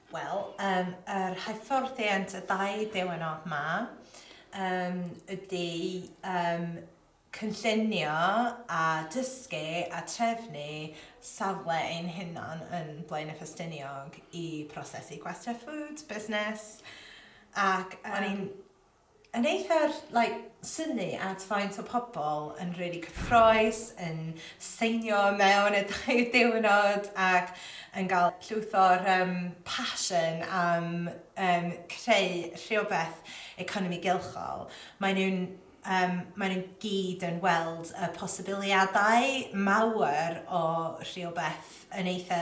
Wel, um, yr hyfforddiant y dau ddiwrnod ma um, ydy um, cynllunio a dysgu a trefnu safle ein hunan yn Blaen y Ffestiniog i prosesu gwestiau ffwd, busnes ac um, o'n i'n yn eitha like synnu at faint o pobl yn rili cyffroes yn seinio mewn y dau ddiwrnod ac yn gael llwyth o'r yym passion am yym creu rhywbeth economi gylchol. Maen nhw'n yym maen nhw'n gyd yn weld y posibiliadau mawr o rhywbeth yn eitha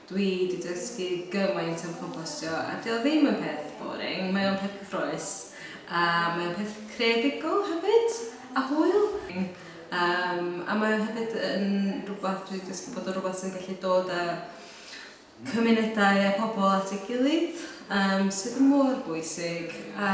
Dwi 'di dysgu gymaint am compostio a 'di o ddim yn peth boring, mae o'n peth cyffrous a mae o'n peth creadigol hefyd a hwyl. Yym a mae o hefyd yn rhywbeth dwi 'di dysgu bod o'n rhywbeth sy'n gallu dod â cymunedau a pobl at ei gilydd yym sydd mor bwysig a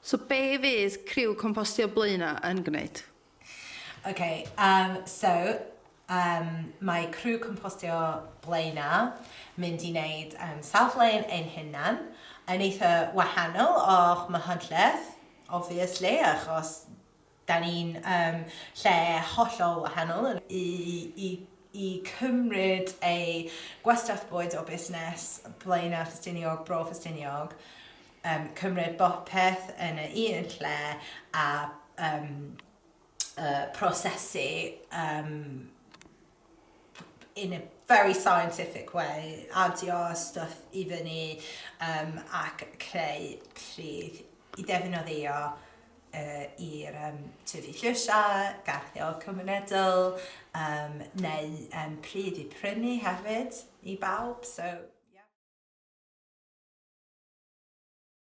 So be fydd criw Compostio Blaenau yn gwneud? Ok, yym so yym mae criw Compostio Blaenau mynd i neud yym safle ein hunan yn eitha wahanol o'ch mhydleth obviously achos Dan ni'n um, lle hollol wahanol. I, i, i cymryd ei gwastraff bwyd o busnes Blaenau Ffestiniog, Bro Ffestiniog, um, cymryd bopeth yn y un lle a um, uh, prosesu um, in a very scientific way, adio stwff i fyny um, ac creu pridd i ddefnyddio uh, i'r um, tyfu llysiau, garddio cymunedol, um, neu um, pridd i prynu hefyd i bawb. So, yeah.